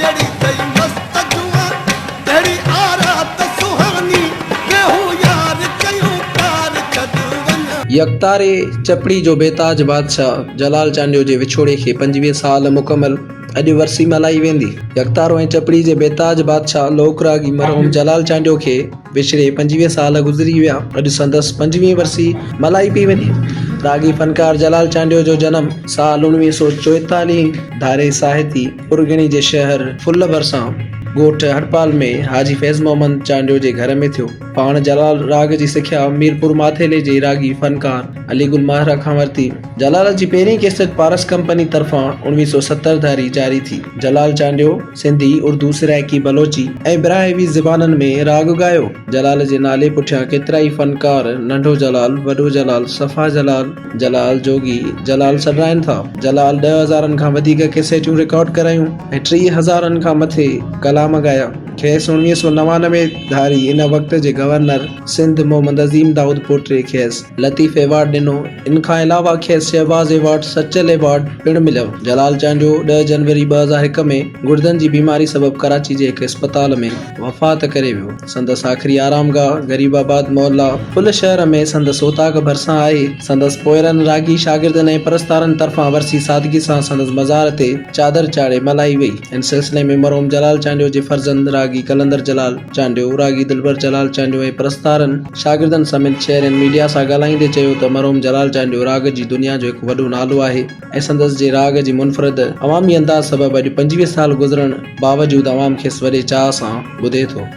ڪهڙي ٿئي مست جوان ڪهڙي آرات سهاني ويهون يار ڪيون ڪار ڇڏ وڃان. يڪتاري چپڙي جو بيتاج بادشاهه جلال چانڊيو جي وڇوڙي کي پنجويهه سال مڪمل، اڄ ورسي ملهائي ويندي. يڪتارو ۽ چپڙي جي بيتاج بادشاهه لوڪ راڳي مرحوم جلال چانڊيو کي وڇڙي پنجويهه سال گذري ويا، اڄ سندس پنجويهين ورسي ملهائي پئي وڃي. راڳي فنڪار جلال چانڊيو جو جنم سال اڻويهه سؤ چوئيتاليهه ڌاري ساهتي، پرڳڻي جي شهر ڦل ڀرسان ڳوٺ هڙپال ۾ حاجي فيض محمد چانڊيو جي گهر ۾ ٿيو. پاڻ جلال راڳ جي سکيا ميرپور ماٿيلي جي راڳي فنڪار علي گل ماهرا کان ورتي. جلال جي پهرين ڪيسٽ پارس ڪمپني طرفان اوڻويهه سؤ ستر ڌاري جاري ٿي. جلال چانڊيو سنڌي، اردو، سرائيڪي، بلوچي ۽ براهوي زبانن ۾ راڳ ڳايو. جلال جي نالي پٺيان ڪيترائي فنڪار ننڍو جلال، وڏو جلال، صفا جلال، جلال جوڳي، جلال سڏرائين ٿا. جلال ڏهه هزارن کان وڌيڪ ڪيسيٽون رڪارڊ ڪرايون ۽ ٽيهه هزارن کان مٿي ڪلام ڳايا. کيس اڻويهه سؤ نوانوي ڌاري ان وقت جي گورنر سنڌ محمد عظيم دائود پوٽري کيس لطيف ايوارڊ ڏنو. ان کان علاوه کيس شهباز ايوارڊ، سچل ايوارڊ پڻ مليو. جلال چانڊيو ڏهه جنوري ٻه هزار هڪ ۾ گڙدن جي بيماري سبب ڪراچي جي هڪ اسپتال ۾ وفات ڪري ويو. سندس آخري آرامگاهه غريب آباد محلا پل شهر ۾ سندس اوطاق ڀرسان آهي. سندس پوئرن، راڳي، شاگردن ۽ پرستارن طرفان ورسي سادگي سان سندس مزار تي چادر چاڙهي ملهائي وئي. ان سلسلي ۾ مرحوم جلال چانڊيو جي فرزند راڳي قلندر جلال چانڊيو، راڳي دلبر جلال چانڊيو ۽ پرستارن، شاگردن سميت شهرين ميڊيا سان ڳالهائيندي چيو ته مرحوم جلال چانڊيو راڳ جي دنيا جو هڪ وڏو نالو آهي ۽ سندس جي راڳ جي منفرد عوامي انداز سبب اڄ پنجويهه سال گذرڻ باوجود عوام کيس وڏي چاهه سان ٻڌي ٿو.